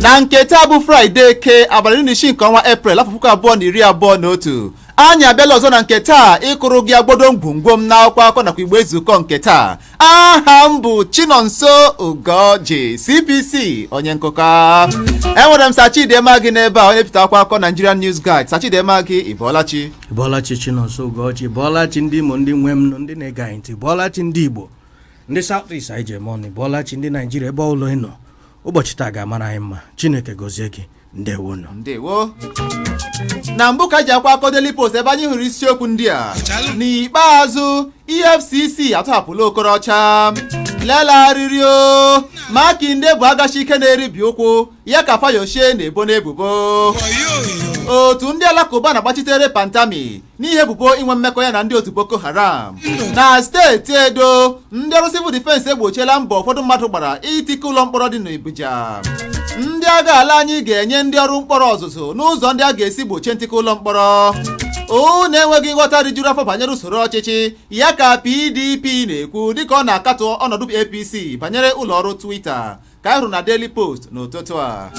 na nke taa bụ fraịde eke abalị na isii nke ọnwa eprel afọ puku abụọ na iri abụọ na otu anyị abịala ọzọ na nke taa ịkụrụ gị agbodo ngwongwo m n'akwụkwọ akọ nakwa igbe ezukọ nke taa aha m bụ chinonso ugoji cbc onye nkụkọ enwere m sachidema gị n'ebe a onye pụta akwụkwọ akọ nigerian news guide sachidema gị ị bọọla chi bọọla chi chinonso ugoji bọọla chi ndị imo ndị nwe m nụ ndị na-ege anyị ntị bọọla chi ndị igbo ndị south east anyị ji eme ọnụ bọọla chi ndị naijiria ebe ọbụla ị nọ ụbọchị taa ga-amara anyị mma chineke gọzie gị ndewonu ndewo na mbụ ka ji akwụkwọ akọ Daily Post ebe anyị hụrụ isiokwu ndị a n'ikpeazụ EFCC atọhapụla Okorocha lela arịrị o Makinde bụ agachi ike na-eribi ụkwụ ya ka Fayose na-ebo n'ebubo otu ndị alakụba na-agbachitere Pantami n'ihi ebubo inwe mmekọ ya na ndị otu Boko Haram na steeti Edo ndị ọrụ civil defense egbochiela mbọ ụfọdụ mmadụ gbara itika ụlọ mkpọrọ dị n'Ubiaja ndị agha ala anyị ga-enye ndị ọrụ mkpọrọ ọzụzụ n'ụzọ ndị a ga-esi gbochie ntika ụlọ mkpọrọ unu enweghị nghọta rijuru afọ banyere usoro ọchịchị ya ka PDP na-ekwu dịka ọ na-akatọ ọnọdụ APC banyere ụlọ ọrụ Twitter ka anyị hụrụ na Daily Post n'ụtụtụ a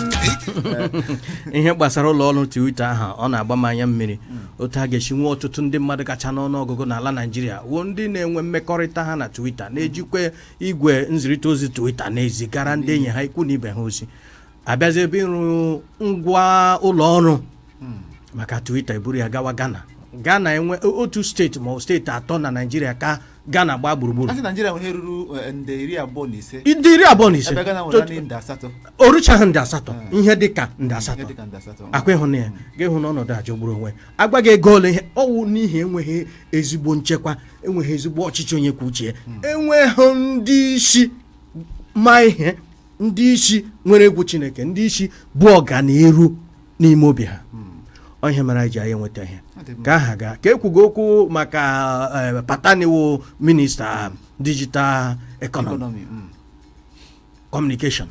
ihe gbasara ụlọ ọrụ Twitter ahụ ọ na-agba m anya mmiri otu a ga-esi nwee ọtụtụ ndị mmadụ kacha n'ọnụ ọgụgụ n'ala Naịjirịa wụ ndị na-enwe mmekọrịta ha na Twitter na-ejikwa igwe nzirịta ozi Twitter na-ezigara ndị enyi ha ikwu na ibe ha ozi a bịazie ebe ịrụ ngwa ụlọ ọrụ maka Twitter e buru ya gawa Ghana Ghana enwe otu steeti ma ọ bụ steeti atọ na Naịjirịa ka Ghana gbaa gburugburu a sị Naijiria nwere ihe ruru eh, nde iri abụọ na ise nde iri abụọ na ise ebe Ghana nwere naanị nde asatọ o ruchaghị nde asatọ ihe dị ka nde ihe asatọ dịka nde asatọ ọkwa ị hụna ya gị ahụ na ọnọdụ a jọgburu onwe agwa gị ego ole ihe ọ wụ n'ihi enweghị ezigbo nchekwa enweghị ezigbo ọchịchị onye kwuo uche ya enweghị ndị isi ma ihe ndị isi nwere egwu chineke ndị isi bu ọganiru n'ime obi ha ọ ihe mere anyị ji anyị enweta ihe ka aha gaa ka ekwugo okwu maka eh, Pantami wụ minista digital economy Economy, mm. communication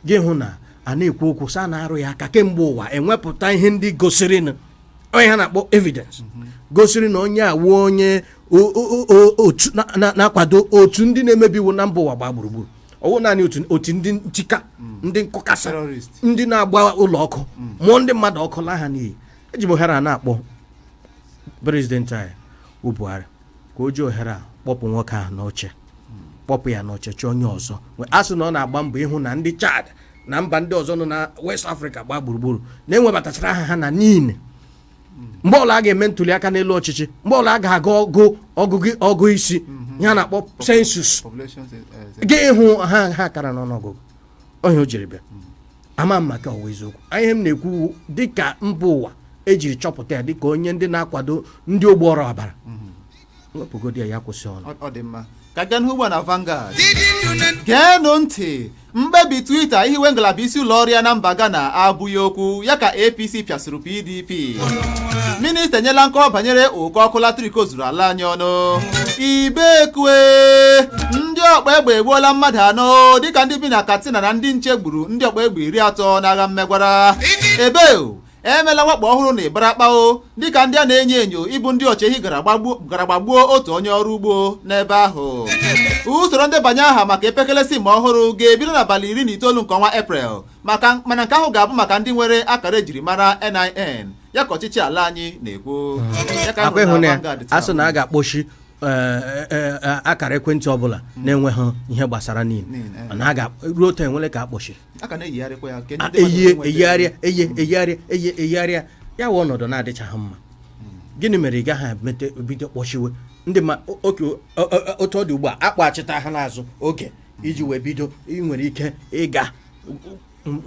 gị hụ na a na-ekwu okwu sị a na-arụ ya aka kemgbe ụwa e wepụta ihe ndị gosiri na ihe ha na-akpọ evidence gosiri na onye a wụ onye o- o- o- otu na- na- na-akwado otu ndị na-emebi iwu na mba ụwa gbaa gburugburu ọ wụ naanị otu otu ndị nchịka mm. ndị nkụkasị ndị na-agba ụlọ ọkụ mm. mụọ ndị mmadụ ọkụ laa ha n'iyi eji m ohere a na-akpọ prezidenti anyị bụ Buhari ka o ji ohere a kpọpụ nwoke ahụ n'oche mm. kpọpụ ya n'oche chọọ onye ọzọ a sị na ọ na-agba mbọ ịhụ na ndị Chad na mba ndị ọzọ nọ na West Africa gbaa gburugburu na e webatachara aha ha na NIN mgbe ọla a ga-eme ntuli aka n'elu ọchịchị mgbe ọla a ga-agụ ọgụ ọgụgụ ọgụ isi ihe a na-akpọ sensus Population is, uh, is- gị ịhụ ha ha kara n'ọnụọgụgụ ihe o jiri bịa ama m ma nke ọ wụ eziokwu ihe m na-ekwu dịka mba ụwa ejiri chọpụta ya dịka onye ndị na-akwado ndị ogbu ọra ọbara wepụgodi ya ya kwụsị ọrụ Ọ- ọ dị mma ka a gaa n'ihu ugbu a na Vanguard geenụ ntị mkpebi Twitter ihiwe ngalaba isi ụlọ ọrụ ya na mba Ghana abụghị okwu ya ka APC pịasịrị PDP minista enyela nkọwa banyere ụkọ ọkụ latrik ozuru ala anyị ọnụ ibekwe ndị ọkpa egbe egbuola mmadụ anọ dịka ndị bi na Katsina na ndị nche gburu ndị ọkpa egbe iri atọ n'agha mmegwara ebeo emela mwakpo ọhụrụ na Ibarapa o dịka ndị a na-enyo enyo ịbụ ndị ọchịehi gara gbagbuo otu onye ọrụ ugbo n'ebe ahụ usoro ndebanye aha maka epekele sim ọhụrụ ga-ebido n'abalị iri na itoolu nke ọnwa eprel maka mana nke ahụ ga-abụ maka ndị nwere akara ejirimara NIN ya ka ọchịchị ala anyị na-ekwu Ya kakwa anyị hụrụ ịhụ na na ya Vanguard taa. a sị na a ga-akpọchi eh, eh, eh, akara ekwentị ọbụla na-enweghị ihe gbasara NIN NIN, eh. na a ga ruo taa enwele ka akpọchi a ka na-eyigharịkwa ya nke ndị a- mmadụ eyie enweta- eyigharịa eyie eyigharịa eyie eyigharịa ya wụ ọnọdụ na-adịchaghị mma gịnị mere ị gaghị emete bido kpọchiwe ndị ma o- oke o- o- otu ọ dị ugbu a akpọchita ha n'azụ oge iji wee bido ị nwere ike ịga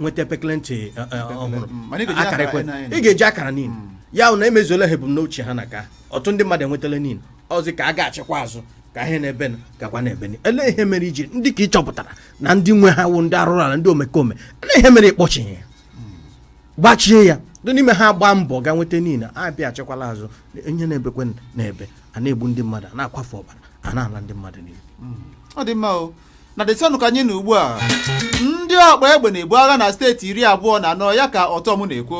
nweta pekele ekwentị eh, eh, ọhụrụ Mm, mana ị ga-eji akara akara ekwe NIN. ị ga-eji akara NIN ya wụ na emezuola ha ebumnuche ha na ka ọtụtụ ndị mmadụ enwetala NIN ọzi ka a ga-achịkwa azụ ka ihe na-ebe na gakwa na-ebe na ele ihe mere iji ndị nke ị chọpụtara na ndị nwe ha wụ ndị arụrụ ala ndị omekome na ihe mere ịkpọchi ya gbachie ya ndị n'ime ha gbaa mbọ ga nweta NIN a bịa achịkwala azụ ihe na-ebekwe na-ebe a na-egbu ndị mmadụ a na-akwafu ọbara a na-ala ndị mmadụ n'iyi ọ dị mma o na Daily Sun ka anyị nọ ugbu a ndị ọkpa egbe na-ebu agha na steeti iri abụọ na anọ ya ka Ortom na-ekwu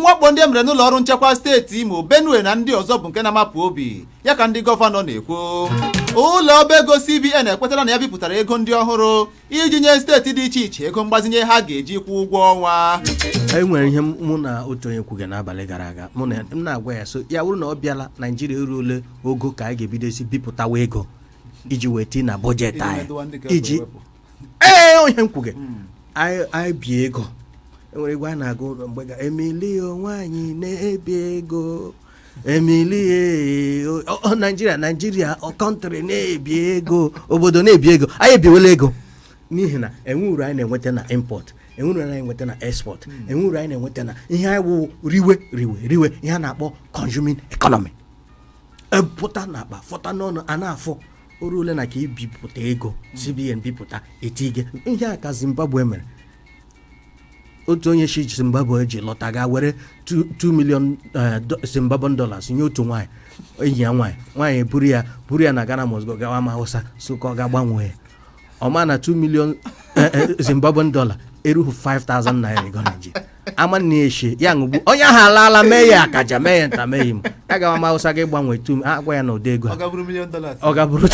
mwakpo ndị e mere n'ụlọ ọrụ nchekwa steeti imo benue na ndị ọzọ bụ nke na-amapụ obi ya ka ndị gọvanọ na-ekwu ụlọ ọba ego CBN ekwetala na ya bipụtara ego ndị ọhụrụ iji nye steeti dị iche iche ego mgbazinye ha ga-eji kwụọ ụgwọ ọnwa e nwere ihe mụ na otu onye kwuga n'abalị gara aga mụ na m na-agwa ya sị ya bụrụ na ọ bịala naijiria eruole ogo ka anyị ga-ebidozi bipụtawa ego iji wee tii na bọjetị Iji anyị medụwa ndị ka e iji wepụ. ee onye m kwuga anyị anyị bie ego enwere egwu a na-agụ mgbe ga emili o nwaanyị na-ebi ego emili naijiria naijiria kọntrị na-ebi ego obodo na-ebi ego anyị ebiwela ego n'ihi na enwe uru anyị na-enweta na import enwe uru anyị na-enweta na export enwe uru anyị na-enweta na ihe anyị wụ riwe riwe riwe ihe a na-akpọ consuming economy epụta n'akpa fọta n'ọnụ a na-afụ o ruole na ka ibipụta ego cbn bipụta etige ihe a ka zimbabwe mere otu onye si zimbabwe ji lọta ga were 2 million eh, do- zimbabwean dollars nye otu nwaanyị enyi ya nwaanyị nwaanyị eburu ya buru ya na ghana must go gawa ama hausa so ka ọ ga gbanwee ya ọ ma na 2 million eh, eh, zimbabwean dollar erughị 5000 naira ego naijiria ama na eshi ya ṅụgbu onye ahụ alaala mee ya akaja mee ya nta mee ya imo ya gawa ama hausa ga gbanwee tu ha gwa ya na ụdị ego a ọ gaburu million dollars ọ ga-abụrụ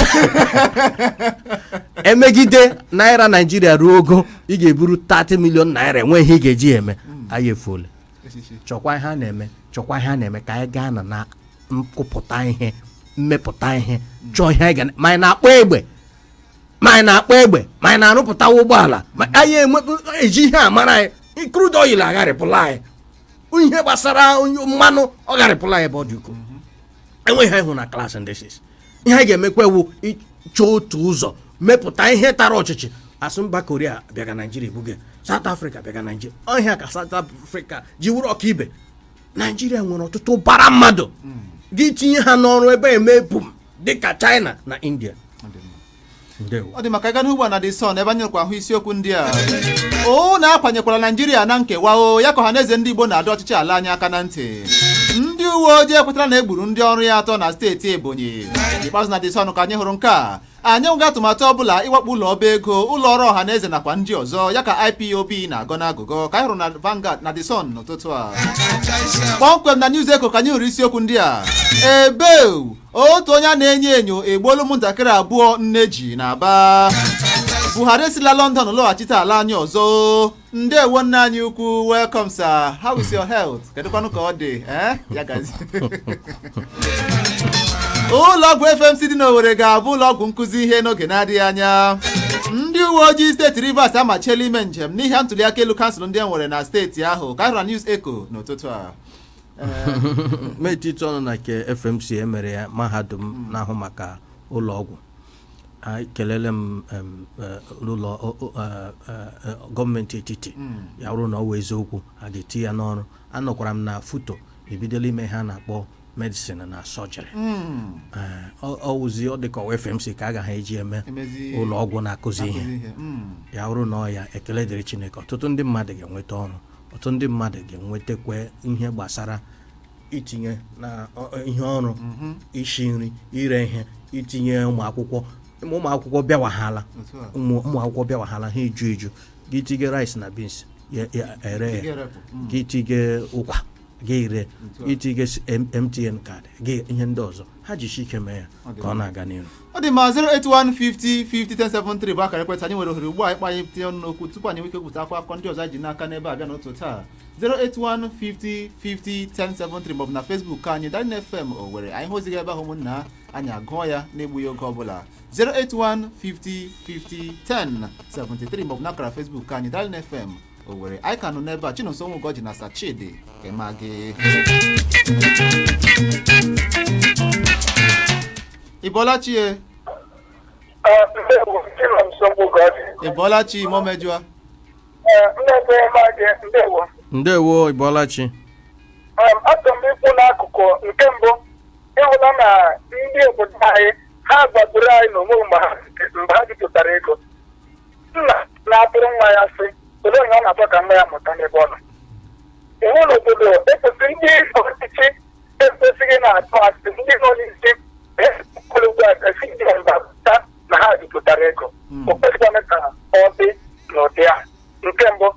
emegide naira naijiria ruo ogo ị ga-eburu 30 million naira enwe ihe ị ga-eji ya eme anyị efuole chọkwa ihe a na-eme chọkwa ihe a na-eme ka anyị gaa na na nkụpụta ihe mmepụta ihe chọọ ihe anyị ga na- ma anyị na-akpụ egbe ma anyị na-akpụ egbe ma anyị na-arụpụta ụgbọala ma anyị enwe- eji ihe a mara anyị crude oil agharịpụla anyị ihe gbasara onye- mmanụ ọ gharịpụla anyị ebe ọ dị ukwuu enweghị ha ịhụ na klaasị ndị sis ihe a ga-emekwa wụ ịchọ otu ụzọ mepụta ihe tara ọchịchị asụ mba koria bịaga naijiria ebuge saut afrịka bịaga naijiria ọ ihe a ka saut afrịka ji wụrụ ọkaibe naijiria nwere ọtụtụ ụbara mmadụ gị tinye ha n'ọrụ ebe a emee boom dịka china na india ndewo ọ dị mma ka ịga n'ihu ugbu a na the sun ebe anyị nọrọkwa hụ isiokwu ndị a unu akwanyekwala naijiria na nkewa o ya ka ọha na eze ndị igbo na-adọ ọchịchị ala anyị aka na ntị ndị uwe ojii ekwetara na e gburu ndị ọrụ ya atọ na steeti ebonyi n'ikpeazụ na the sun ka anyị hụrụ nke a anyị nweghị atụmatụ ọbụla ịwakpo ụlọ ọba ego ụlọ ọrụ ọha na eze nakwa ndị ọzọ ya ka ipob na-agọ n'agụgọ ka anyị hụrụ na Vanguard na the sun n'ụtụtụ a kpọmkwem na news echo ka anyị hụrụ isiokwu ndị a ebeu otu onye a na-enyo enyo egbuola ụmụntakịrị abụọ nne ji n'aba buhari esila london lọghachite ala anyị ọzọ ndewo nna anyị ukwu welcome sir how is your health kedụkwanụ ka ọ dị eh? ya gazie ụlọọgwụ fmc dị n'owere ga-abụ ụlọọgwụ nkụzi ihe n'oge na-adịghị anya ndị uwe ojii steeti rivers amachiela ime njem n'ihi ntuliaka elu kansụl ndị e nwere na steeti ahụ ka a hụrụ news echo n'ụtụtụ a m etitụ ọnụ na nke fmc e mere ya mahadum na-ahụ maka ụlọ ọgwụ ekelele m em, eh, ụlọ o- o- eh, eh, eh, gọọmenti etiti ya bụrụ na ọ wụ eziokwu a ga-eti ya n'ọrụ anụkwara m na futo ebidola ime ihe a na-akpọ medicine na surgery ọ wụzi ọ dịka ọ wụ fmc ka a ga-eji eme Emezi- ụlọ ọgwụ na-akụzi ihe ihe. Mm. ya bụrụ na ọ ya ekele dịrị chineke ọtụtụ ndị mmadụ ga-enweta ọrụ ọtụtụ ndị mmadụ ga-enwetakwa ihe gbasara itinye na ọ- ọ- ihe ọrụ isi nri ire ihe itinye ụmụ akwụkwọ ma ụmụ akwụkwọ bịawahala Otu a. ụmụ ụmụ akwụkwọ bịawahala ha eju eju gị tinye rice na beans ya ya ere Ị ya ga-erepụ. Mm. gị tinye ụkwa gị ire Otu a. itinye s- M- mtn kaadị gị ihe ndị ọzọ ha jisie ike mee ya ka ọ na-aga n'ihu ọ dị ma 08150501073 bụ akara ekwentị anyị nwere ohere ugbu a ịkpọ anyị tinye ọnụ n'okwu tupu anyị nwee ike kwupụta akwụkwọ ndị ọzọ anyị ji n'aka n'ebe a bịa n'ụtụtụ taa 08150501073 maọbụ na Facebook nke anyị Darling FM Owerri anyị hụ ozi gị ebe ahụ ụmụnna, anyị agụọ ya n'egbughị oge ọbụla 08150501073 maọbụ na akara Facebook nke anyị Darling FM Owerri anyị ka nọ n'ebe a chinonso nwụgọji na sachidi kema gị ị bọọla chi e ị bọọla chi momejụa ndewo ị bọọla chi achọrọ m ikwu n'akụkụ nke mbụ ị hụla na ndị obodo anyị ha gbagburu anyị n'onwe mgbe ha mgbe ha bipụtara ego nna na-atụrụ nwa ya asị olee onye ọ na-achọ ka nwa ya mụta n'ebe ọ nọ iwu n'obodo ekwesịrị ndị ọchịchị ekwesịghị na-atụ asị ndị nọ n'isi ekwere ugbu a gasị ndị mba pụta na ha bipụtara ego o kwesịkwana ka ọ dị n'ụdị a nke mbụ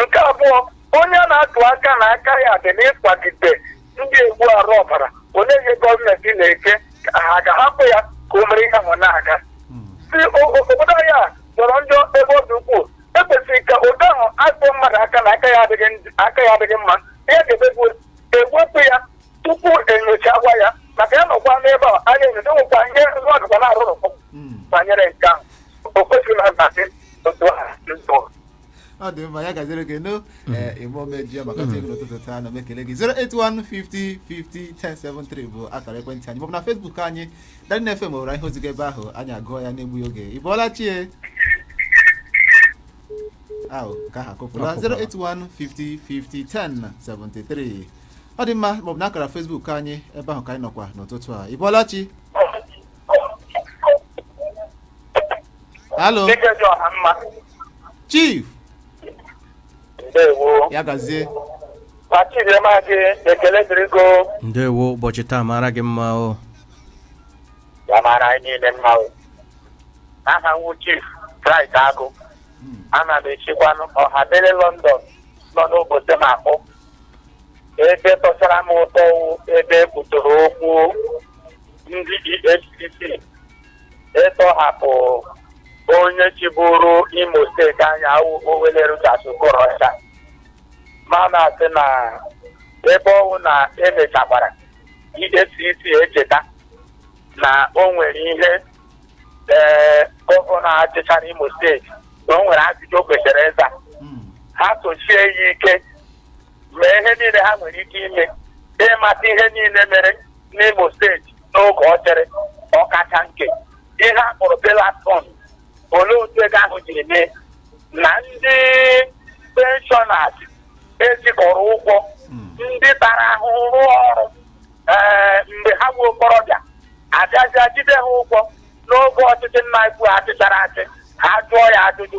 nke abụọ onye a na-atụ aka na aka ya dị n'ịkwagide ndị egbu arụ ọbara olee ihe gọọmenti na-eche ka ha ga-ahapụ ya ka o mere ihe ahụ na-aga si o- o- obodo anyị a jọrọ njọ ebe ọ dị ukwuu ekwesịrị ka ụdị ahụ atụọ mmadụ aka na aka ya adịghị njọ- aka ya adịghị mma ihe a ga-eme bụ ewepụ ya tupu enyochakwa ya maka ya nọkwa n'ebe a anyị enyocha nwekwa ihe nwa ọdụkwa na-arụ ọrụ banyere nke ahụ o kwesịrị na nhazi otu ahụ ọ dị mma ya gaziere gị no ịmụmeji maka otu egwu n'ụtụtụ taa ana m ekele gị 08150501073 bụ akara ekwentị anyị maọbụ na Facebook anyị Darling FM Owerri anyị hụ ozi gị ebe ahụ anyị agụọ ya n'egbughị oge ị bọọla chi e ahụ nke ahụ akụpụla 08150501073 ọ dị mma maọbụ na akara Facebook anyị ebe ahụ ka anyị nọkwa n'ụtụtụ a ị bọọla chi halo Dike dị ọha mma. chief Ndewo. ya gazie Ma Chidimma gị ekele dịrị gị o ndewo ụbọchị taa mara gị mma o ya mara anyị niile mma o. Aha m wụ Chief Chris Agụ. Ana m esikwanụ ọhabere London nọ n'obodo m akpọ. Ebe tọchara m ụtọ wụ ebe e kwutoro okwu ndị EFCC ịtọhapụ onye chịburu imo steeti anyị a wụ Owelle Rochas Okorocha ma na-asị na ebe ọ wụ na emechakwara EFCC echeta na o nwere ihe ee gọvanọ a chịchara imo steeti na o nwere ajụjụ o kwesịrị ịza ha sochie ya ike mee ihe niile ha nwere ike ime ịmata ihe niile mere n'Imo steeti n'oge ọ chịrị ọkacha nke ihe a kpọrọ bailout fund olee otu ego ahụ jiri mee na ndị penshọnas e jikọrọ ụgwọ ndị tara ahụhụ rụọ ọrụ ee mgbe ha bụ okorobịa abịazịa jide ha ụgwọ n'oge ọchịchị nna ukwu achịchara achị ha jụọ ya ajụjụ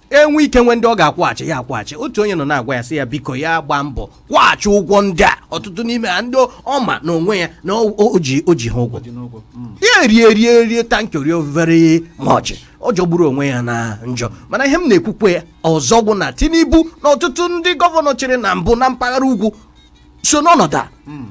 e nwe ike nwee ndị ọ ga-akwụghachi ya akwụghachi otu onye nọ na-agwa ya sị ya biko ya gbaa mbọ kwụghachi ụgwọ ndị a ọtụtụ n'ime ha ndị ọ ma n'onwe ya na o ji ha ụgwọ hmm. ya rie rie rie tankori overe mọchị ọ jọgburu onwe ya na njọ mana ihe m na-ekwukwe ya ọzọ bụ na Tinubu na ọtụtụ ndị gọvanọ chịrị na mbụ na mpaghara ugwu so n'ọnọdụ a hmm.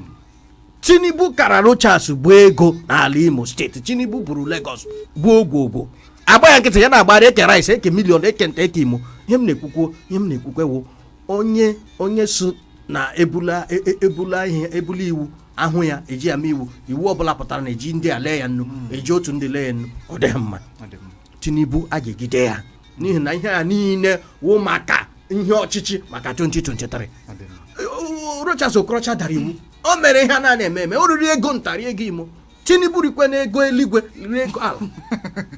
tinubu kara rochas bu ego n'ala imo steeti tinubu buru lagos bu ogwogwo agba ya nkịtị ya na-agbara eke rice eke million eke nta eke imo ihe m na-ekwukwo ihe m na-ekwukwe wụ onye onye so na ebula e- e- ebula ihe ebula iwu ahụ ya e ji ya mee iwu iwu ọbụla pụtara na e ji ndị a lee ya nnu e ji otu ndị lee ya nnu ọ dịghị mma tinubu a ga-ejide ya n'ihi na ihe a niile wụ maka ihe ọchịchị maka 2023 rochas okorocha dara iwu o mere ihe a na-eme eme o riri ego nta rie ego imo tinubu rikwe na ego eluigwe riri ego ala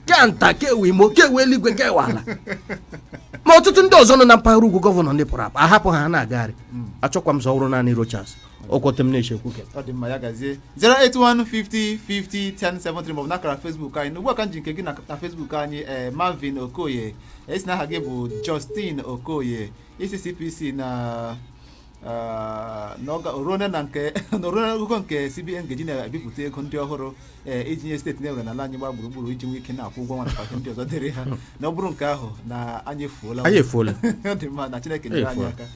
ke nta kewe imo kewe eluigwe kewe ala ma ọtụtụ ndị ọzọ nọ na mpaghara ugwu gọvanọ ndị pụrụ apụ a hapụ ha na-agagharị hmm. achọkwa m sị ọ wụrụ naanị rochas ọkwọta m na-echekwu gị ọ dị mma ya gazie 08150501073 maọbụ n'akara Facebook anyị n'ugbu a ka m ji nke gị na na Facebook anyị ee Marvin Okoye ị sị na aha gị bụ Justin Okoye ị sị CPC na ah, na ọga- oruone na nke na oruone akwụkwọ nke CBN ga-eji na-ebipụta ego ndị ọhụrụ ee iji nye steeti e nwere n'ala anyị gbaa gburugburu iji nwee ike na-akwụ ụgwọ ọnwa nakwa ihe ndị ọzọ dịrị ha na ọ bụrụ nke ahụ na anyị efuola anyị efuola ọ dị mma na Chineke nyere anyị Efuola. aka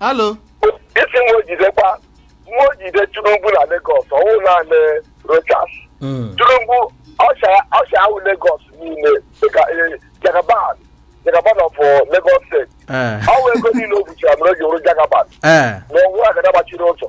alo isi nwa o jidekwa nwa o jide Tinubu na Lagos ọ wụ naanị Rochas Mm. Tinubu ọsha ahụ Lagos niile dịka eh, Jagaban Jagaban of eh, Lagos steeti Eh, ọ wụ ego niile o buchara mere o ji wụrụ Jagaban eh, na ọ wụ agada gbachiri ụzọ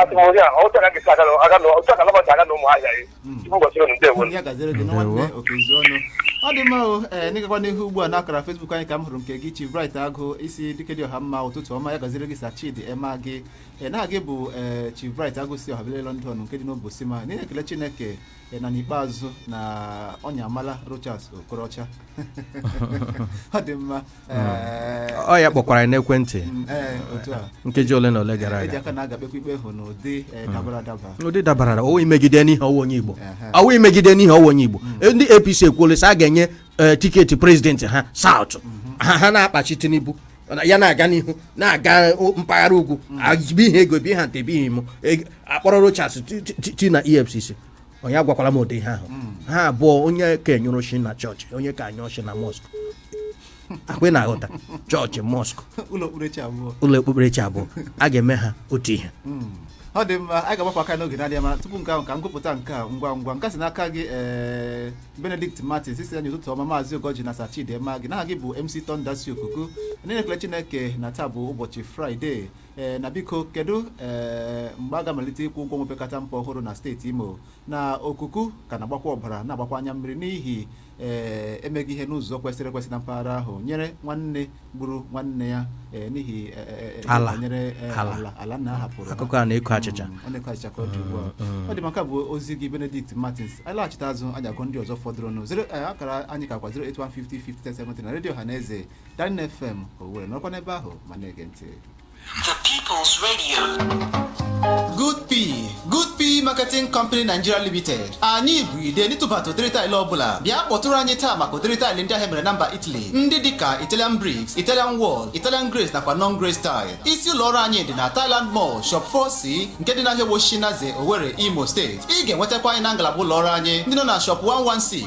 atụmọrị a otu a ga-esi aga na- aga na- otu aka nabata aga na ụmụ ahịa ya Mm. tupu ụbọchị unu ndewo ya gaziere gị na Ndewo. nwanne Okezie ọnụ ọ dị mma o ee n'ịgakwa n'ihu ugbu a n'akara Facebook anyị ka m hụrụ nke gị Chief Bright Agụ ị sị dike dị ọha mma ụtụtụ ọma ya gaziere gị sa Chidi Emma gị ee na gị bụ ee Chief Bright Agụ si obele London nke dị n'Obosi ma na-ekele Chineke ee, na n'ikpeazụ na ọnya amala Rochas Okorocha ọ dị mma ọ ya kpọkwara ya n'ekwentị nkeji ole na ole gara aga ụdị dabara ọ wụ imegide n'ihi ọ wụ onye igbo mm. ndị apc ekwuole sị a ga-enye e, tiketi prezidenti ha saụt mm-hmm. ha ha na-akpachi tinubu ya na-aga n'ihu na-aga mpaghara ugwu mm. bi ihe ego bi ha nte bi ihe imo e, akpọrọ rochas ti na efcc onye agwakwala m ụdị ihe ahụ hmm. ha abụọ onye ka nyụrụ shi na chọọchị onye ka nyụrụ shi na mọskụ ọkwa ị na-aghọta chọọchị mọskụ ụlọ okpukperechi abụọ a ga-eme ha otu ihe hmm. ọ dị mma anyị ga-agbapụ aka n'oge na-adịghị anya mana tupu nke ahụ ka m gụpụta nke a ngwa ngwa nke si n'aka gị eh, Benedict Martins ị sị anyị ụtụtụ ọma maazị Ugoji na Sachidema gị na aha gị bụ MC Tonda si okuku na-ekele Chineke na taa bụ ụbọchị Fraịde ee na biko kedu ee mgbe a ga-amalite ịkwụ ụgwọ ọnwa opekata mpe ọhụrụ na steeti imo na okuku ka na-agbakwa ọbara na-agbakwa anya mmiri n'ihi ee emeghị ihe n'ụzọ kwesịrị ekwesị na mpaghara ahụ nyere nwanne gburu nwanne ya ee n'ihi ee, ee, ee, Ala. banyere ee, Ala. ala ala nna ha hapụrụ ha. akụkọ a na-eko achịcha Mm, ọ na-eko achịcha ka ọ dị ugbu a ọ dị mma nke a bụ ozi gị benedict martins anyị laghachite azụ anyị agụ ndị ọzọ fọdụrụnụ Zero- eh, akara anyị kakwa 08150 na redio ọha na eze 9 FM Owerri nọkwa n'ebe ahụ ma na-ege ntị The People's Radio. Good P Good P Marketing Company Nigeria Limited anyị bụ ide n'ịtụbata ụdịrị taịlị ọbụla bịa kpọtụrụ anyị taa maka ụdịrị taịlị ndị ahụ e mere na mba Italy ndị dịka Italian bricks Italian wall Italian glaze nakwa non glaze tile isi ụlọ ọrụ anyị dị na Thailand Mall Shop 4C nke dị n'ahịa Ọgbọ Oshishi Naze Owerri Imo steeti ị ga-enwetakwa anyị na ngalaba ụlọ ọrụ anyị ndị nọ na Shop 116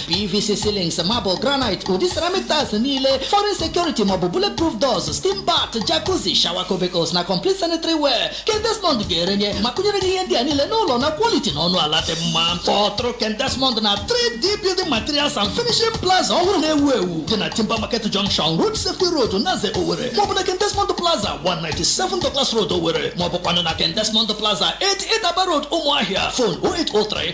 pvc ceilings marble granite ụdị ceramic tiles niile foreign security maọbụ bulletproof doors steam bath jacuzzi shower cubicles na complete sanitary ware ken desmond ga-erenye ma kụnyere gị ihe ndị a niile n'ụlọ na quality na ọnụ ala dị mma kpọtụrụ ken desmond na 3d building materials and finishing plaza ọhụrụ na-ewu ewu dị na timber market junction road safety road naze owere maọbụ na ken desmond plaza 197 douglas road owere maọbụkwanụ na ken desmond plaza 88 aba road ụmụahịa fon 0803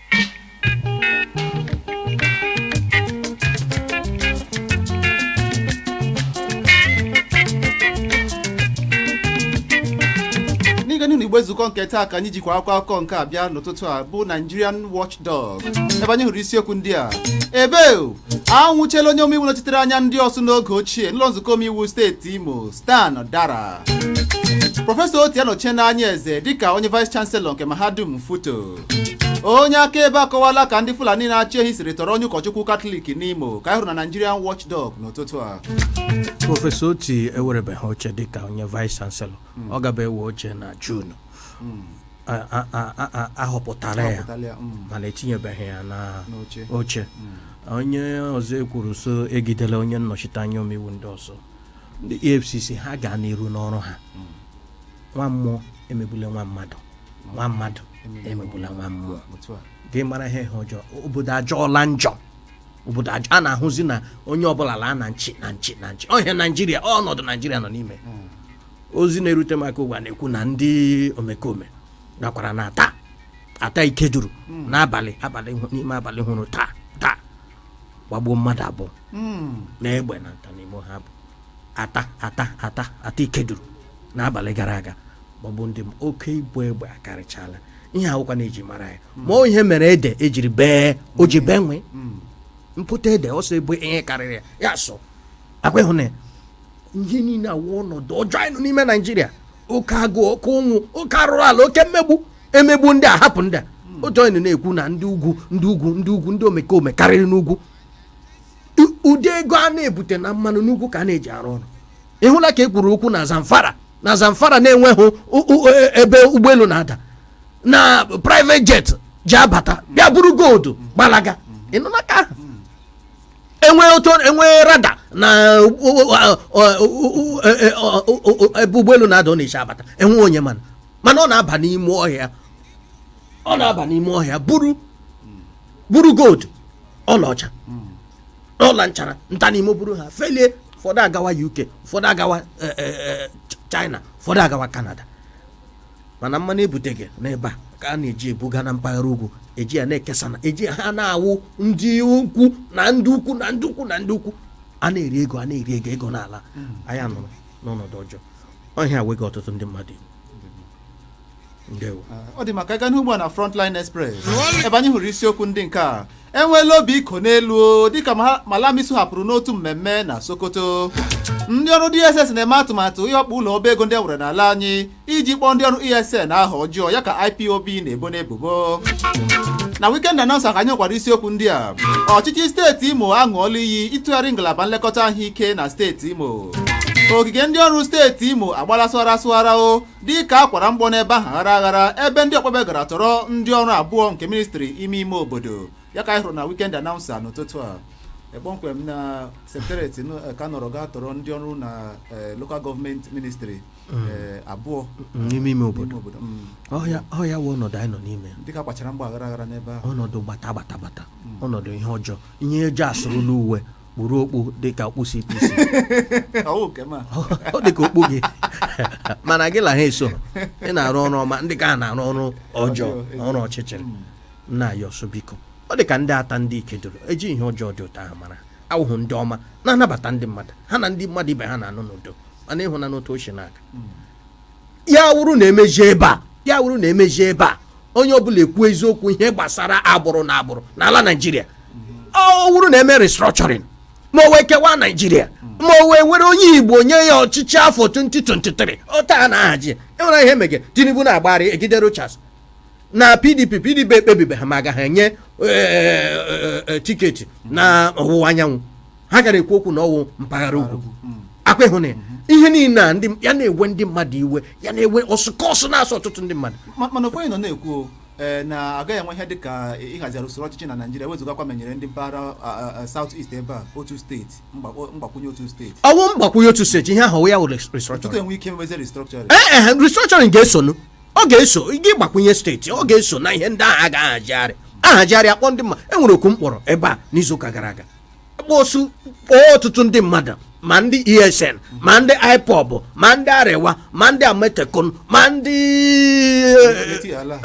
n'ịga n'ihu na igbe nzukọ nke taa ka anyị jikwa akwụkwọ akụkọ nke a bịa n'ụtụtụ a bụ Nigerian Watchdog ebe anyị hụrụ isiokwu ndị a ebe anwụchiela onye omeiwu nọchitere anya ndị Orsu n'oge ochie n'ụlọ nzukọ omeiwu steeti Imo Stan Dara prọfesọ Oti anọchiela anya Eze dịka onye vice chancellor nke mahadum Futo onye akaebe akọwala ka ndị fulani na-achị ehi siri tọrọ onye ụkọchukwu katọlik n'imo ka anyị hụrụ na nigerian watchdog n'ụtụtụ a prọfesọ oti ewerebeghị oche dịka onye vice chancellor ọ gaba ewe oche na jun A- a- a- a- a- ahọpụtala ya, mm, mana etinyebeghị ya n'oche onye ọzọ ekwuru so egidela onye nnọchiteanya omeiwu ndị ọzọ ndị efcc ha gaa n'iru n'ọrụ ha nwa mmụọ emegbula nwa mmadụ nwa mmadụ emegbula nwa mmụọ otu a gị mara ihe ihe ọjọọ obodo ajọọla njọ obodo ajọ a na-ahụzi na onye ọbụla laa na nchi na nchi na nchi ọhịa naijiria ọnọdụ naijiria nọ n'ime ozi na-erute m aka ugbu a na-ekwu na ndị omekome gakwara na atta atta ikeduru n'abalị abalị hụ- n'ime abalị hụrụ taa taa gbagbuo mmadụ abụọ na egbe na nta n'imo ha bụ atta atta atta atta ikeduru n'abalị gara aga maọbụ ndị m oke ịgba egbe akarịchala ihe awụkwa na-eji mara ya ma ọ ihe mere ede ejiri bee o ji bee nwii pụta ede ọsọ ebe ihe karịrị ya ya sọ akwa ịhụ na ya ihe niile awụ ọnọdụ ọjọọ anyị nọ n'ime naijiria oke agụụ oke ụnwụ oke arụrụ ala oke mmegbu emegbu ndị a hapụ ndị a otu onye na-ekwu na ndị ugwu ndị ugwu ndị ugwu ndị omekome karịrị n'ugwu ụdị ego a na-ebute na mmanụ n'ugwu ka a na-eji arụ ọrụ ịhụla ka e kwuru okwu na zamfara na zamfara na enweghị e, ebe ụgbọelu na-ada na private jet ji abata bịa buru gold gbalaga ịnụla ka ahụ enwe otu enwe radar na ebe ụgbọelu na-ada ọ na-eshi abata enwe onye manụ manụ ọ na-aba n'ime ọhịa ọ na-aba n'ime ọhịa buru buru gold ọlaọcha ọla nchara nta n'imo buru ha felie ụfọdụ agawa uk ụfọdụ agawa e, e, e, china ụfọdụ agawa canada mana mmanụ ebutega n'ebe a ka a na-eji ebuga na mpaghara ugwu eji ya na-ekesa na eji ha na-awụ ndị ukwu na ndị ukwu na ndị ukwu na ndị ukwu a na-eri ego a na-eri ego ego n'ala hmm. anyị anọrọ n'ọnọdụ ọjọọ ọ ihe a wega ọtụtụ ndị mmadụ ndewo ọ dị mma ka anyị gaa n'ugbu a na Frontline Express ebe anyị hụrụ isiokwu ndị nke a enweela obi ịkọ n'elu o, dịka ma- Malami si hapụrụ n'otu mmemme na Sokoto ndị ọrụ DSS na-eme atụmatụ ịwakpo ụlọ ọba ego ndị e nwere n'ala anyị iji kpọọ ndị ọrụ ESN aha ọjọọ ya ka IPOB na-ebo n'ebubo na Weekend Announcer ka anyị nwekwara isiokwu ndị a ọchịchị steeti Imo aṅụọla iyi ịtụgharị ngalaba nlekọta ahụike na steeti Imo ogige ndị ọrụ steeti imo agbala sụghara sụghara o dịka a kwara mgbọ n'ebe ahụ aghara aghara ebe ndị ọkpọ egbe gara tọrọ ndị ọrụ abụọ nke ministri ime ime obodo ya ka anyị hụrụ na wikend anaụnsa n'ụtụtụ a Eh, kpọmkwem na sekretariat nụ- eh, ka nọrọ gaa tọrọ ndị ọrụ na eh, local gọọmenti ministri eh, abụọ n'ime ime obodo n'ime obodo Mm. ọ ya ọ ya wụ ọnọdụ anyị nọ n'ime ya. dịka akwachara mgbọ aghara aghara n'ebe ahụ ọnọdụ gbata gbata gbata ọnọdụ ihe ọjọọ ihe ọjọọ asụrụla uwe kpuru okpu dịka okpu CPC ọwụ nke ma ọ dịka okpu gị mana gị la ha esohụ ị na-arụ ọrụ ọma ndị ka a na-arụ ọrụ ọjọọ na ọrụ ọchịchịrị nna anyị ọsọ biko ọ dị ka ndị atta ndị ikeduru eji ihe ọjọọ dị otu ahụ mara ha wụ ndị ọma na-anabata ndị mmadụ ha na ndị mmadụ ibe ha na-anọ n'udo mana ịhụ na n'otu o si na-aga ya wụrụ na emeji ebe a ya wụrụ na emeji ebe a onye ọbụla ekwu eziokwu ihe gbasara agbụrụ na agbụrụ n'ala naijiria ọ wụrụ na eme restructuring ma ọ wụ ekewaa naijiria ma ọ wụ ewere onye igbo nye ya ọchịchị afọ 2023 ọ taa a na-ahaji enwere ihe mege tinubu na-agbagharị egide rochas na pdp pdp ekpebibeghị ma agaghị enye eh, eh, eh, tiketi na ọwụwa anyanwụ ha gara ekwu okwu na ọwụ mpaghara ugwu ọkwa ịhụ na ya ihe niile a ndị ya na-ewe ndị mmadụ iwe ya na-ewe ọsụkọsụ na-asụ ọtụtụ ndị mmadụ Ma- mana ụfọdụ nọ na-ekwu ee, na agaghị enwe ihe dịka ịhazigharị usoro ọchịchị na naijiria wezụgakwa ma enyere ndị mpaghara saut ist ebe a otu steeti mgbakpọ- mgbakwunye otu steeti ọwụ mgbakwunye otu steeti ihe ahụ ya wụ ọtụtụ restructuring enwe ike mewezi restructuring ee e restructuring ga-esonu ọ ga-eso gị gbakwunye steeti ọ ga-eso na ihe ndị ahụ a ga-ahazigharị ahazigharị akpọ ndị mma enwere oku m kpọrọ ebe a n'izuụka gara aga akpọsu kpọọ ọtụtụ ndị mmadụ ma ndị esn ma ndị ipob ma ndị arewa ma ndị amotekun ma ndị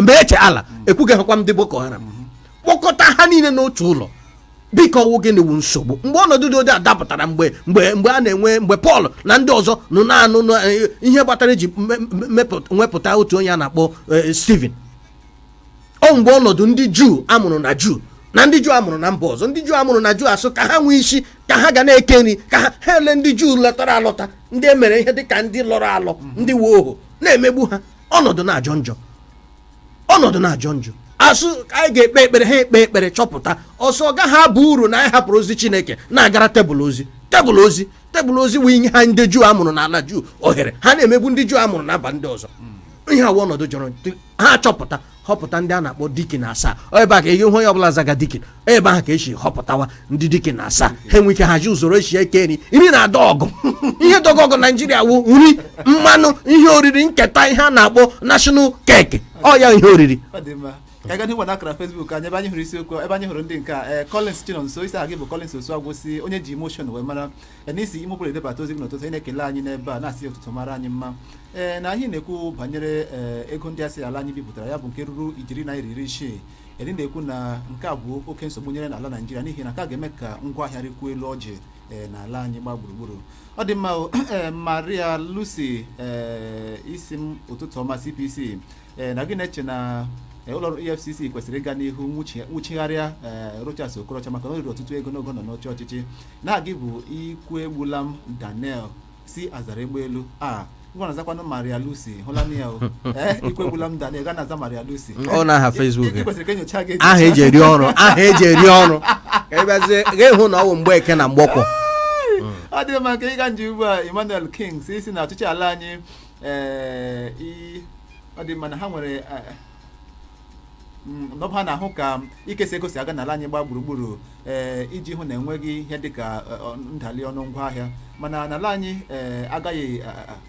miyetti allah ekwughị hakwa ndị boko haram kpọkọta ha niile n'otu ụlọ biko ọwụ gịnị wụ nsogbu mgbe ọnọdụ dị ụdị a dapụtara mgbe mgbe mgbe a na-enwe mgbe pọl na ndị ọzọ nọ na-anụ ihe kpatara eji wepụta otu onye a na-akpọ eh, steven ọ mgbe ọnọdụ ndị juu amụrụ na juu na ndị juu amụrụ na mba ọzọ ndị juu amụrụ na juu asụ ka ha nwee isi ka ha ga na-eke nri ka ha ha ele ndị juu lọtara alọta ndị e mere ihe dịka ndị lọrọ alọ ndị wụ ọhọọ na-emegbu ha ọnọdụ na-ajọ njọ ọnọdụ na-ajọ njọ asụ ka anyị ga-ekpe ekpere ha ekpe ekpere chọpụta sị ọ gaghị abụ uru na anyị hapụrụ ozi chineke na-agara tebụl ozi tebụl ozi tebụl ozi wee nye ha ndị juu amụrụ n'ala juu ohere ha na-emegbu ndị juu amụrụ na mba ndị ọzọ ihe awa ọnọdụ jọrọ ha achọpụta họpụta ndị a na-akpọ dikin asaa Ọ ebe a ka ihe onye ọbụla zaga dikin Ọ ebe ahụ ka esi họpụtawa ndị dikin asaa ha enwe ike haji usoro esi eke nri nri na-adọ ọgụ ihe dọgọ ọgụ naijiria wụ nri mmanụ ihe oriri nketa ihe a na-akpọ national cake ọ ya ihe oriri ọ dị mma ka anyị gaa na akara Facebook anyị ebe anyị hụrụ isiokwu ebe anyị hụrụ ndị nke a ee Collins Chinonso ị sị aha gị bụ Collins Osuagwu sị onye ji emotion wee mara ya na i si imụpụrụ edebata ozi gị n'ụtụtụ a ị na-ekele anyị n'ebe a na-asị ụtụtụ mara anyị mma ee na anyị na-ekwu banyere ee, ego ndị a sị na ala anyị bipụtara ya bụ nke ruru ijeri naira iri isii ee ị na-ekwu na nke a bụ oke nsogbu nyere n'ala naijiria n'ihi na nke a ga-eme ka ngwa ahịa rịkwuo elu ọjị ee, n'ala anyị gba gburugburu ọ dị mma o, ee, maria lucy ee, ị sị m ụtụtụ ọma cpc ee na gị na-eche na ee, ụlọ ọrụ efcc kwesịrị ịga n'ihu nwụchi- nwụchigharịa ee, rochas okorocha maka na o riri ọtụtụ ego n'oge ọ nọ n'oche ọchịchị na gị bụ ikwuegbulam daniel si azaraegbelu a ngwa na-azakwanụ maria lucy ahụla m ya o ee ikwuegbulam daniel ga na-aza maria lucy Ọ na aha Facebook Ị- ị kwesịrị ka e nyochaa gị aha eji eri ọrụ aha eji eri ọrụ ka ị bịazie ga-ahụ na ọ bụ mgbeke na mgbọkwọ ọ dị mma ka ịga nje ugbu a emmanuel king si ị sị na ọchịchị ala anyị ee i- ọ dị mma na ha nwere eh, mm, na ọ bụ ha na-ahụ ka ikesa ego si aga n'ala anyị gbaa gburugburu ee iji hụ na enweghị ihe dịka eh, ọ- ndali ọnụ ngwa ahịa mana n'ala anyị ee agaghị a- a-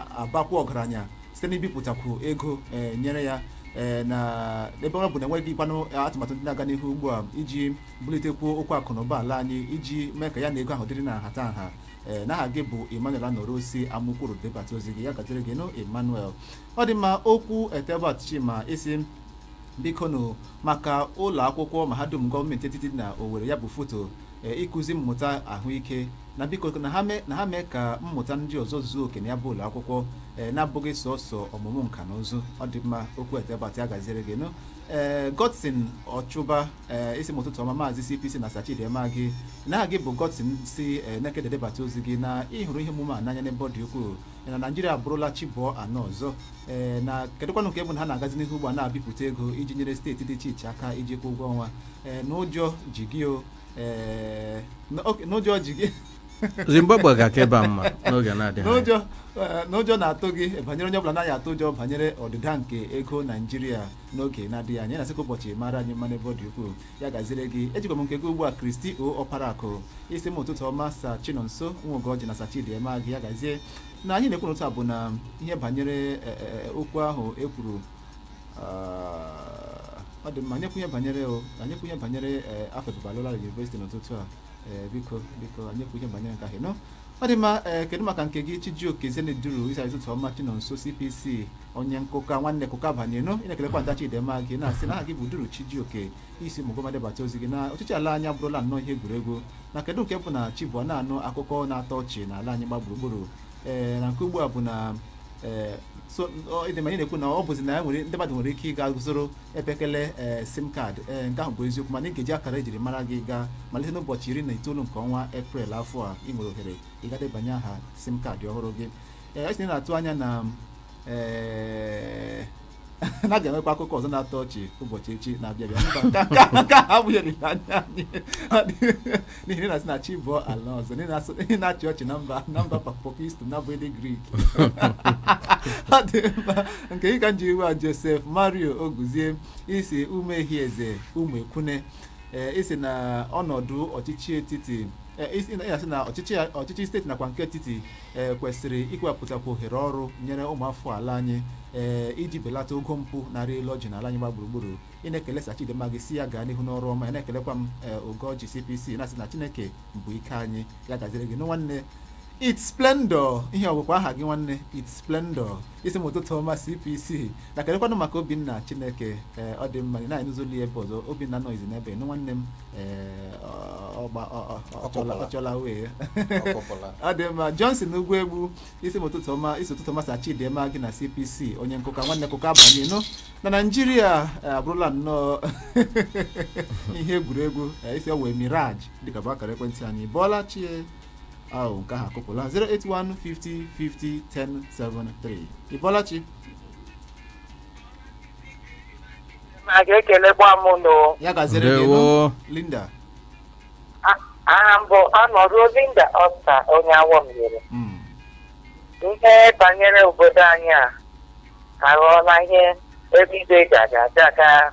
a- abakwu ọgaranya site n'ibipụtakwu ego ee nyere ya ee na ebe ọ bụ na enweghịkwanụ atụmatụ ndị na-aga n'ihu ugbu a iji bulitekwuo okwu akụ na ụba ala anyị iji mee ka ya na ego ahụ dịrị na nhata nha ee na aha gị bụ emmanuel anọruo si amakwuru debata ozi gị ya gaziere gị nụ emmanuel ọ dị mma okwu etebat chima ị sị biko nụ maka ụlọ akwụkwọ mahadum gọọmenti etiti dị na owere ya bụ futo ee, ịkụzi mmụta ahụike na biko na ha mee na ha mee ka mmụta ndị ọzọ zuo oke na ya bụ ụlọ akwụkwọ ee, na-abụghị sọsọ ọmụmụ nka na ụzụ ọ dị mma okwu etebat ya gaziere gị nụ ee godson ọchụba ee ị sị m ụtụtụ ọma maazị cpc na sa chidi emeagi na gị bụ godson si ee, nekede debata ozi gị na ị hụrụ ihe omume a n'anya n'ebe ọ dị ukwuu na naijiria abụrụla chi bọọ anụ ọzọ ee na kedụkwanụ nke bụ na ha na-agazi n'ihu ugbu a na-ebipụta ego iji nyere steeti dị iche iche aka iji kwụọ ụgwọ ọnwa ee na ụjọ ji gị o ee n- ok, na ụjọ ji gị zimbabwe ga-aka ebe a mma n'oge na-adịghị anya. na ụjọ eh, na ụjọ na-atụ gị banyere onye ọbụla naghị atụ ụjọ banyere ọdịda nke ego naijiria n'oge na-adịghị anya na-asịkwa ụbọchị mara anyị mma n'ebe ọ dị ukwuu ya gaziere gị ejikwa m nke gị ugbu a kristi oparaku ị sị m ụtụtụ ọma sa chinonso nwogoji na sa chidi emeagi ya gazie na anyị na-ekwu n'ụtụtụ a bụ na ihe banyere e, e, e, okwu ahụ e kwuru ah, ọ dị mma anyị ekwu ihe banyere o anyị ekwu ihe banyere e, afe babalola university n'ụtụtụ a e, biko biko anyị ekwu ihe banyere nke ahụ nọ ọ dị mma e, kedu maka nke gị chijioke zeneduru ị sị ụtụtụ ọma chinonso cpc onye nkụka nwanne kụka banyenu ị na-ekelekwa sa chidimma gị na-asị na aha gị bụ duru chijioke isi ụmụguma debata ozi gị na ọchịchị ala anyị abụrụla nnọọ ihe egwuregwu na kedu nke bụ na chi bọọ a nụ akụkọ na-atọ ọchị na ala anyị gba gburugburu ee na nke ugbu a bụ na ee so ọ- ịdị ma anyị na-ekwu na ọ bụzi na ya nwere ndị mmadụ nwere ike ịga zụrụ mpekele ee sim kaadị ee nke ahụ bụ eziokwu mana ị ga-eji akara ejiri mara gị gaa malite n'ụbọchị iri na itoolu nke ọnwa eprel afọ a ị nwere ohere ịga debanye aha sim kaadị ọhụrụ gị ee isi na-atụ anya na ee na a ga-enwekwa akụkọ ọzọ na-atọ ọchị ụbọchị echi na-abịa abịa mba nke a- nke a abụghị olileanya anyị n'ihi na ị na-asị na chi bọọ a nụ ọzọ na ị na-asụ- ị na-achị ọchị na mba na mba papokist na bụ ndị grik ọ dị mma nke ịka nji iwe a josef mario oguzie isi ụmụehieze ụmụekwune ee isi na ọnọdụ ọchịchị etiti ee, isi- ị na-asị na ọchịchị ọchịchị steeti nakwa nke etiti ee kwesịrị ikepụtakwu ohere ọrụ nyere ụmụafọ ala anyị ee iji belata ogo mpụ na-arị elu ọjị n'ala anyị gba gburugburu ị na-ekele sa Chidimma gị si ya gaa n'ihu n'ọrụ ọma ị na-ekelekwa m ee Ugoji CPC na-asị na Chineke bụ ike anyị ya gaziere gị nụ nwanne It's Splendor ihe ọgwụkwa aha gị nwanne It's Splendor isi m ụtụtụ ọma cpc na kedụkwanụ maka obinna chineke ee ọ dị mma na ịnụzoli ebe ọzọ obinna nọzi n'ebe nụ nwanne m ee ọgba ọchọla wee ọ dị mma johnson ugwu egbu isi m ụtụtụ ọma isi ụtụtụ ọma sa chidịma gị na cpc onye nkụka nwanne kụka abanye nụ na naijiria abụrụla nnọọ ihe egwuregwu isi ọ wụ mirage dịka bụ akara ekwentị anyị ị bọọla chi e ahụ nke ahụ akụpụla 08150501073 ị bọọla chi na ga-ekelekwa m nụ ya gaziere gị nụ ndewo linda aha m bụ Anọruo Linda Ọsta onye Awo Mbieri Mm. ihe banyere obodo anyị a aghọọla ihe ebido jagajaga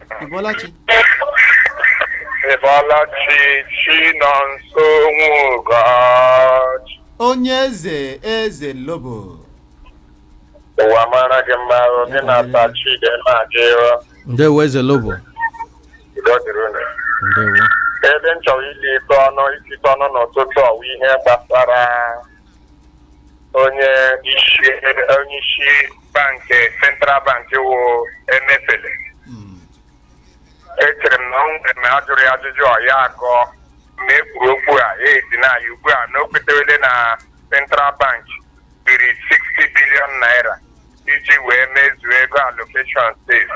Ị bọọla chi? Ị bọọla chi Chinọnso nwụgachi. Onye eze eze lobo. Ụwa mara gị mma o, gị na sa Chidimma gị o. ndewo eze lobo Udo dịrị unu. ndewo Ebe m chọrọ ili ite ọnụ isikọ ọnụ n'ụtụtụ a wụ ihe gbasara onye isi onye isi bankị central bank wụ emefiele Mm. echere m na ọ nwere ma a jụrụ ya ajụjụ ọ ya agọ ma e kwuru okwu a ya esi na ya ugbu a na o kwetewele na central bank biri 60 bilion naira iji wee mezuo ego allocation state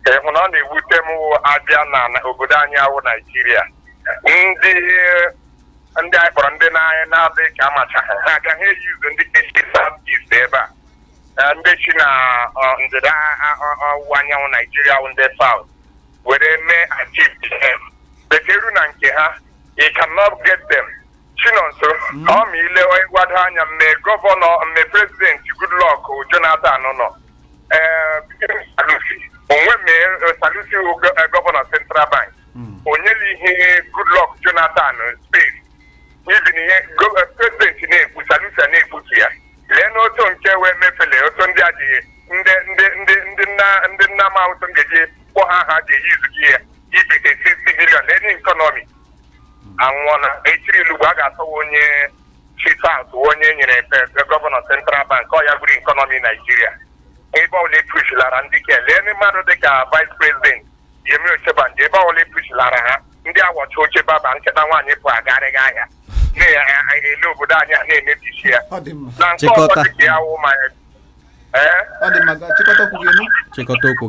ka ihe nọ na-ewute m wụ a bịa na na obodo anyị a wụ naijiria ndị ndị anyị kpọrọ ndị nna anyị na-adị ka amachaghị ha aga ha eyi ụzọ ndị ke chị south east ebe a Eh, ndị chị na ọ, ndịda a- ọ- ọwụwa anyanwụ naijiria wụ ndị south were mee atipm better na nke ha you cannot get them chinonso ọ ma ile onye gbado anya mme gọvanọ mme prezidenti goodluck jonathan nọ Eh, sanusi o nwe mme sanusi wụ gọ- eh, gọvanọ central bank o nyela ihe Goodluck Jonathan space n'ihi na ihe prezidenti na-ekwu Sanusi na-ekputu ya lee n'otu nke wee mefele otu ndị a ji ndị ndị ndị ndị nna ndị nna ma otu m ga-eji kpọ ha ha ga-eji izuji ya ibite 60 bilion lee n'ikọnọmi anwụọla echiri i lee ugbu a ga-achọwa onye chief out onye nyere pe- gọvanọ central bank ọ ya gburu ikọnọmi naijiria ebe ọbụla e kpuchilara ndị ke lee ndị mmadụ dịka vice president Yemi Osinbajo ebe ọbụla e kpuchilara ha ndị a wụcha oche baba nkịta nwaanyị pụ agarịghị ahịa na-ele obodo anyị a na-emebisi ya ọ dị mma na nke ọzọ Chịkọta. dịka ya wụ ma ee ọ dị mma gaa chịkọta okwu gị nụ chịkọta okwu gị